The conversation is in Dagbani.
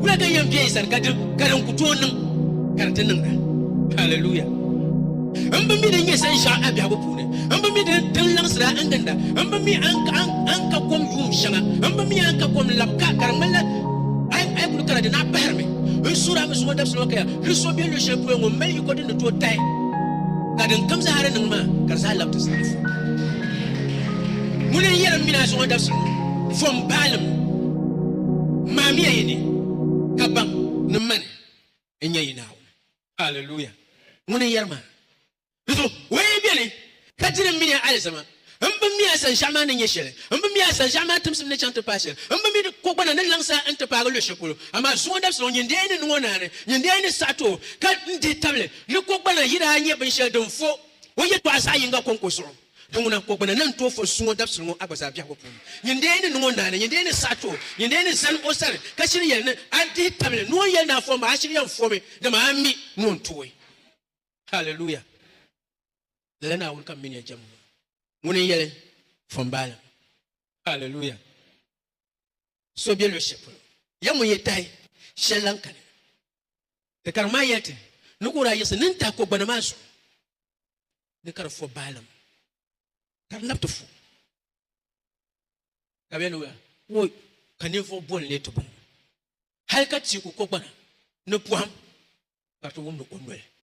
Wula ka yɛn bɛ yi sani ka di ka din ku tooi niŋ ka di ti niŋda. Hallelujah. N bi mi din nyɛ sanshɛɣu a biɛhigu puuni. N bi mi din din laɣisira n ginda. N bi mi a ni ka a ni- a ni ka kom yuum shɛŋa. N bi mi a ni ka kom lab ka ka di ŋmanila a yi a yi kuli kana di naa pahirimi. N suhiri a mi zuŋɔ dabisili ŋɔ kaya ni so bɛ luɣi shɛli polo ŋɔ m mali yiko din ni tooi tahi ka din kam zaa di niŋ maa ka di zaa lab ti zaa. Ŋuni n yɛlim mini a zuɣu dabisili ŋɔ, Vom baalim, maamiya yi ni ka baŋ ni mani n-nyɛ yi Naawuni. Alleluia! Ŋuni n yɛri maa? Di zuɣu o yi beni ka diri m mini a alizama, m bi mi a sanʒiɛɣu maa ni nyɛ shɛli, m bi mi a sanʒiɛɣu maa timsim ni chaŋ ti paai shɛli, m bi mi di kogbana ni laŋsi a n-ti paagi luɣ shɛli polo. Amaa zuɣu dabisili ŋɔ, nyin dee ni niŋ o naani, nyin dee ni saɣiti o, ka n dihi tabili ni kogbana yi daa nyɛ binshɛli din vo. O yɛtɔɣa zaɣ yiŋga kɔŋko zuɣu, Di ŋuna, kɔ gbana ni n tooi fɔn su ŋɔ dabisili ŋɔ a gba zaa biɛhigu puuni. Nyin dee ni niŋ o naani, nyin dee ni saɣi ti o, nyin dee ni zani o sani, ka shiri yɛli ni a dihi tabili, ni o yɛli ni a fɔmi, a shiri yɛn fɔmi, dama a mi ni o ni tooi. Haleluya! Lala Naawuni ka m mini ya jɛmbu maa, ŋuni n-yɛli fɔmbaalim. Haleluya! so be luɣishɛli polo, ya ŋun yi tahi shɛli lan kani. Di kariŋ maa yɛli ti ni ka o daa yiɣisi nini tahi kogbana maa zuɣu ni ka di fo baalim, ka di nabi ti fo ka bɛ ni ku o ka ninvuɣ boli lee ti bɔŋɔ, hal ka teeku kogbana ni pɔhim ka di ti wumdi o noli.